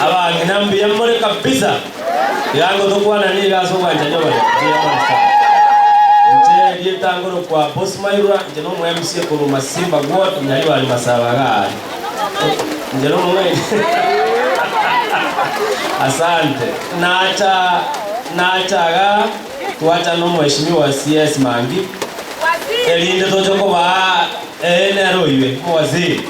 Abang'ina mbuya more kabisa. Iga nigo tokwanane iga ase obwanchani obonene. Mbuya more sana. Inche Rieta ngorokwa Boss Mairwa, inche nomo MC korwa Masimba Ward, Nyaribari Masaba iga aria. Inche nomong'aini. Asante. Nacha nacha iga twachana na Mweshimiwa CS Mangi, erinde toche kobaa, eeh nere oywe, Mowaziri.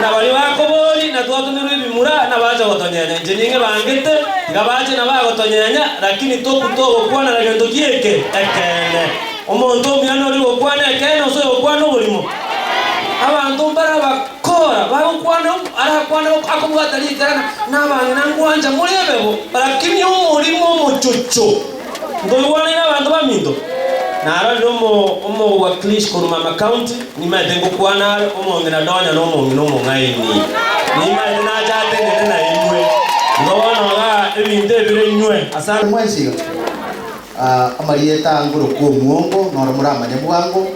Na baria bakobori na twatumirwe ebimura nabacha gotonyenya, inche ning'e bangete, tiga bache na bagotonyenya, lakini toku togokwanera gento gieke ekeene. Omonto omuya noria ogokwana ekeene ase oyokwana oborimo. Abanto mbare abakora bagokwana arakwane akobwata riikerana, na abang'ina ngwancha, muri ebebo, lakini omorimo omochocho. Nkoigwanaine abanto baminto, narorire omowakilishi korwa Mama County, nimaete ngokwana are omong'ina nonya nomong'ina omong'aini. Nimaete nache atenene nainwe, nkobonoga ebinto ebire inwe ase. Mwensi iga, amarieta angorokwa omuongo, noro moramanye bwango,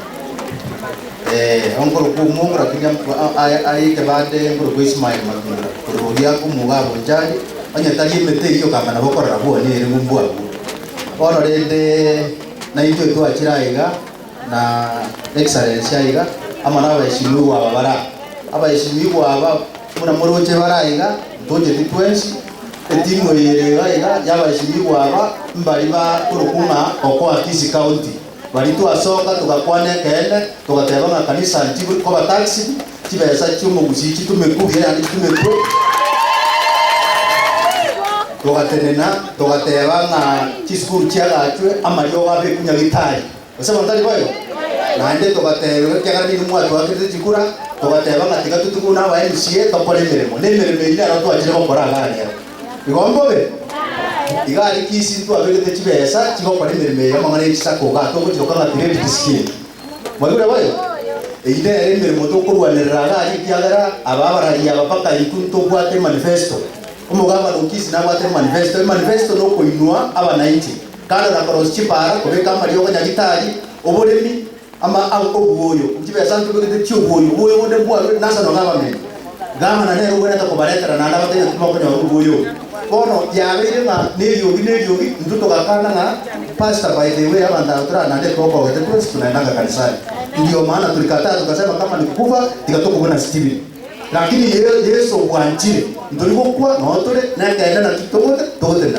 Onkorokwa omwomura kiria aye ekebande enkorokwa Ismael Matumura korwa Ogiaku omoga agwo Nchari, onye tari emete eyio kang'ana bokorora bwoni erigwe mbwabwo. Bono rende naintwe twachire aiga na Excellence aiga amo na abaeshimiwa aba bare aa. Abaeshimiwa aba buna moroche bare aiga ntocheti twensi, etimu eye ere iga aiga ya abaeshimiwa aba mbari bakorokwa ng'a Okoa Kisi County. Baria twasoka togakwana ekeene, togateba ng'a kanisa nchibwe koba taxed, chibesa chi'omogusii chitumekwe buya naende chitumekwe. Togatenena, togateba ng'a chisukuru chiagachwe, amariogo abekwe Nyagetari. Gose abanto tari boigo? Naende togateberwa ekiagera nigo mwatwakerete chikura, togateba ng'a tiga totigwe buna aba MCA tokore emeremo, na emeremo eyio nero twachire gokora iga aa rero. Igo mbobe, iga aria kisi ntwaberete chibesa chigokora emeremo eye amang'ana ye chisake ogato ogotiroka ng'a credit scheme. Mwaigure boyo? Eyio nere emeremo tokorwanerera iga aria ekiagera aba abarari aba mpaka intwe ntobwate emanifesto. Omogabana o kisi nabwate emanifesto. Emanifesto na okoinwa abanainchi kando na korosia chipara, kobeka amariogo, nyagitari, oboremi, Ama ao obuoyo bw'chibesa nchiko gete chi'obuoyo, obuoyo bonde mbwarure inase nonya abameni. Gavana nere ogwenerete kobaretera naende abatebie ng'a timokonyora obuoyo obo. Bono yabeire ng'a neriogi neriogi, intwe togakana ng'a Pastor by the way abanto aba torare naende ekero okogete twensi tunaendanga kanisani. Ndio maana tolikatae togasema kama ni kukufa tiga tokwe buna Stephen. Lakini Yesu obwanchire, ntori gokwa noo tore nekeene naki togote, togotenena.